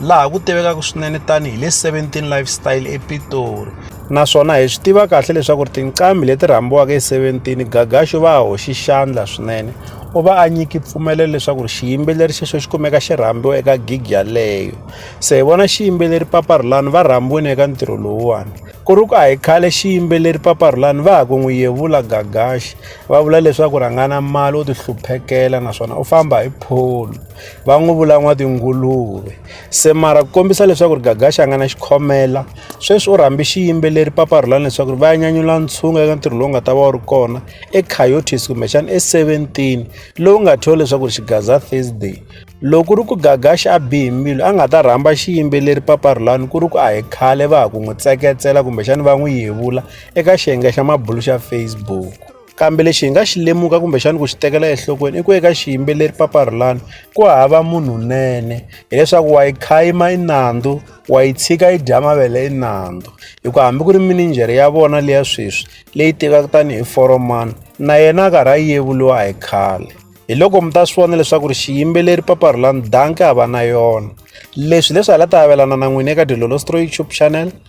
laha ku tivekaka swinene tanihi le 17 lifestyle epitori naswona hi swi tiva kahle leswaku ri tinqambi leti rhambiwaka hi 17 gagaxo va hoxi xandla swinene u va a nyiki mpfumelelo leswaku ri xiyimbeleri xexo xi kumeka xi rhambiwa eka gig yaleyo se hi vona xiyimbeleri paparhulani va rhambiwini eka ntirho lowuwani ku ri ku a hi khale xiyimbeleri paparhulani va ha ku n'wi yevula gagaxi va vula leswaku rhangana mali u tihluphekela naswona u famba hi pholo va n'wi vula n'watinguluve se mara ku kombisa leswaku ri gagaxa a nga na xikhomela sweswi u rhambi xiyimbeleri paparhulani leswaku ri va ya nyanyula ntshungu eka ntirho lowu nga ta va wu ri kona ecoyotis kumbexana e-seventeen lowu nga thyiwa leswaku ri xigaza thursday loko ri ku gagaxa a bihi mbilu a nga ta rhamba xiyimbeleri paparhulani ku ri ku a hi khale va ha ku n'wi tseketsela kumbexana va n'wi yevula eka xiyenge xa mabulu xa facebook Kambe lexi hi nga xi lemuka kumbexana ku xi tekela enhlokweni i ku eka xiyimbeleri paparhulani ku hava munhu nene hileswaku wa yi khayima i nandzu wa yi tshika yi dya mavele i nandzu hikuva hambi ku ri mininjhere ya vona leya sweswi leyi tivaka tanihi foromani na yena a karhi a yevuriwa hi khale hi loko mi ta swi vona leswaku ri xiyimbeleri paparhulani danki a va na yona leswi leswi hala ta avelana na n'wina eka dilolostroy tube channel